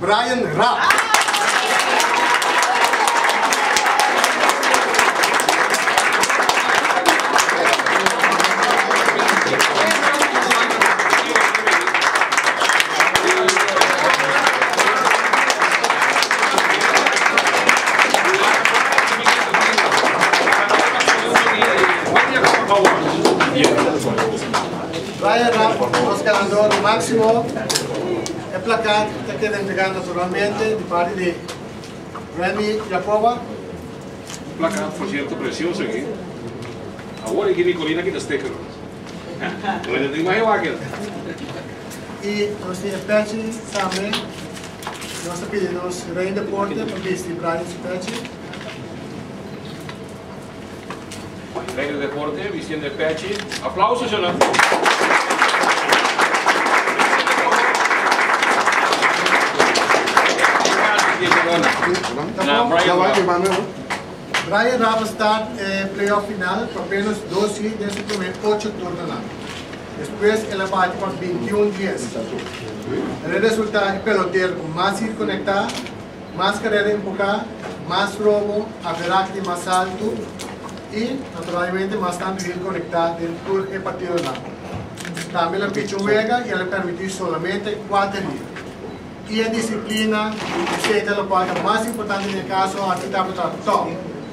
Brian Rapp. Brian Rapp nos ganador maximo. E plakat ta keda entregá naturalmente di parti di Remy Jacoba. Un plakat porsierto presioso aki. Awor e Jimmy Colina kita sticker no mas. Bo inda ta imahe wak el. I nos tin e pechi tambe. Nos ta pidi nos Rey Deporte pa bisti Brian su pechi. Rey de deporte Vicente Pechi aplausos yo nan Brian Rafa start e playoff final pa menos dos hit den su prome ocho turnonan despues el a bati pa bintiun dies el a resulta di pelotero cu mas hit conecta Mas carera enfoca, mas robo, averaj di mas alto y naturalmente mas tanto hende conecta den tur e partidonan. Tambe nan pichi un wega y nan a permiti solamente cuater dia. Y e disciplina, yo cree ta lo cual ta mas importante den e caso aki tabata top.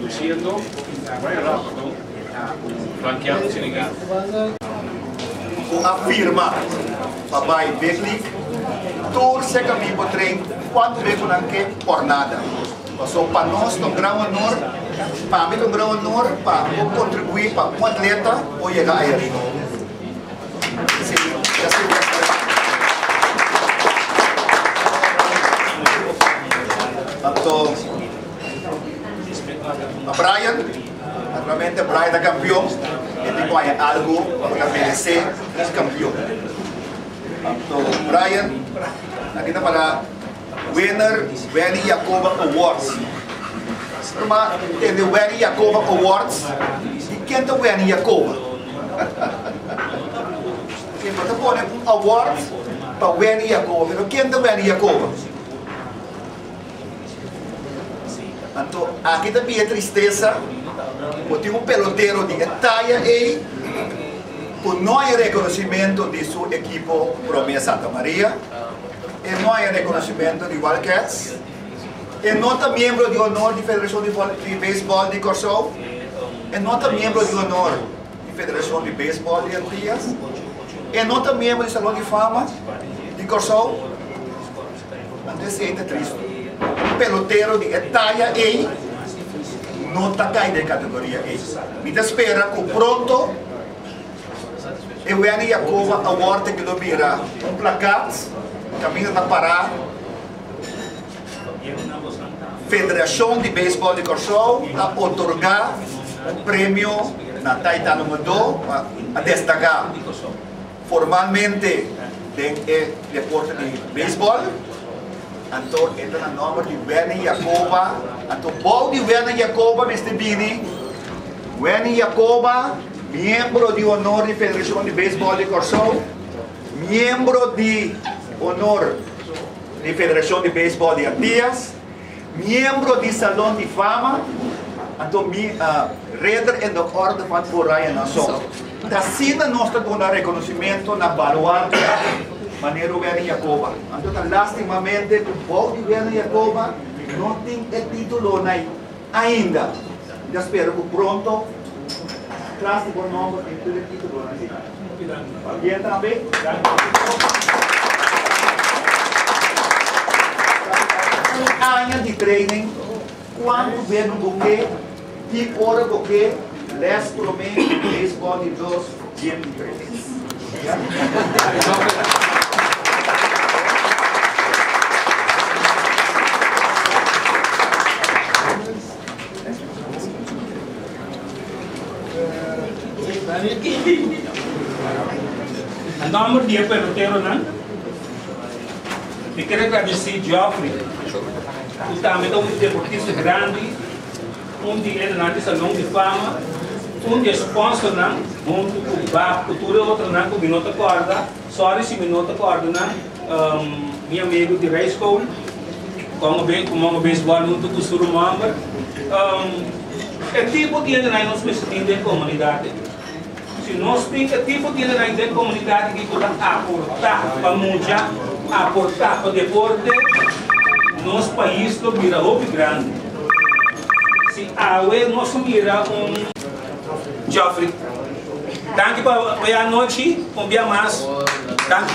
Lo siento, bay rápido e ta un blankeado Senegal. Bo a firma pa bai Betlic tur seca mi bo train cuantu bes bo nan ke or nada. Paso pa nos ta un gran honor, pami ta un gran honor pa bo contribui pa un atleta por yega aya riba. Anto. A Brian, naturalmente Brian ta campeon e tin cu haña algo pa cu ta merece nos campeon. So Brian aki ta para winner Wendy Jacoba Awards. Siempre ma tende Wendy Jacoba Awards y ken ta Wendy Jacoba? Siempre bo ta pone un award pa Wendy Jacoba pero ken ta Wendy Jacoba? Anto aki ta bia tristesa, bo tin un pelotero di e taya ei ku no hay rekonosimento di su ekipo prome Santa Maria, e no hay rekonosimento di Wildcats, e no ta miembro di honor di Federashon di Vòley di Beisbòl di Kòrsou, e no ta miembro di honor di Federashon di Beisbòl di Antias, e no ta miembro di Salon di Fama di Kòrsou. Ta importante si ey ta Cristo. Un pelotero di e taya ey no ta cay den e categoria ey. Mi ta spera cu pronto e Wendy Yacoba Award ta keda bira un plakat caminda ta para Federacion di Baseball di Corsoao ta otorga un premio na Taitano Mado pa a destaca. formalmente den e deporte di beisbòl, anto e ta na nòmber di Wendy Jacoba, anto bou di Wendy Jacoba mester bini Wendy Jacoba, miembro di honor di Federacion di Beisbòl di Kòrsou, miembro di honor di Federacion di Beisbòl di Antillas, Miembro di Salon di Fama, anto mi a Ridder in de Orde van Oranje Nassau. T'asina nos ta duna reconocimento na baluarte manera Werner Jacoba. Anto ta lastimamente cu bou di Werner Jacoba no tin e titulonan. Ainda, mi ta spera cu pronto tras di bo nomber den tur e titulonan di Fa Bien tambe. Un aña di training, cuanto bebel bo ke, ki ora bo ke, les prome, baseball di dos, gym di tres. Na nomber di e peloteronan mi ker a gradisí Geoffrey ku tambe ta un deportista grandi. Un di enanan di Salon di Fama, un di e sponsornan, huntu ku bap ku tur e otronan ku mi no ta kòrda, sòri si mi no ta kòrda nan, mi amigu di Ray School, kon a ku Mongo Baseball huntu ku su rumòmber. E tipo di enanan nos mester tin den komunidat ei. Si nos tin e tipo di lidernan den komunidat aki ku ta aportá pa mucha, aportá pa deporte, nos pais lo bira hopi grandi. Si awe nos lo mira un. Geoffrey. Danki pa e anochi un bia mas. Danki.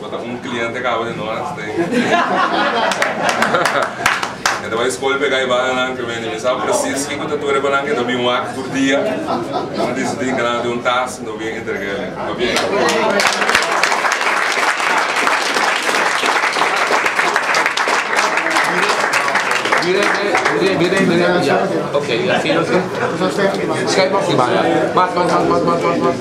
Bo ta un cliente cabo de noras ta in e ta bai scol pega e baha nan cu mi sa precies kico ta tur e cu nan ta bin wak tur dia nan a dicidi cu nan tin un task nan win entrega ele pa bien.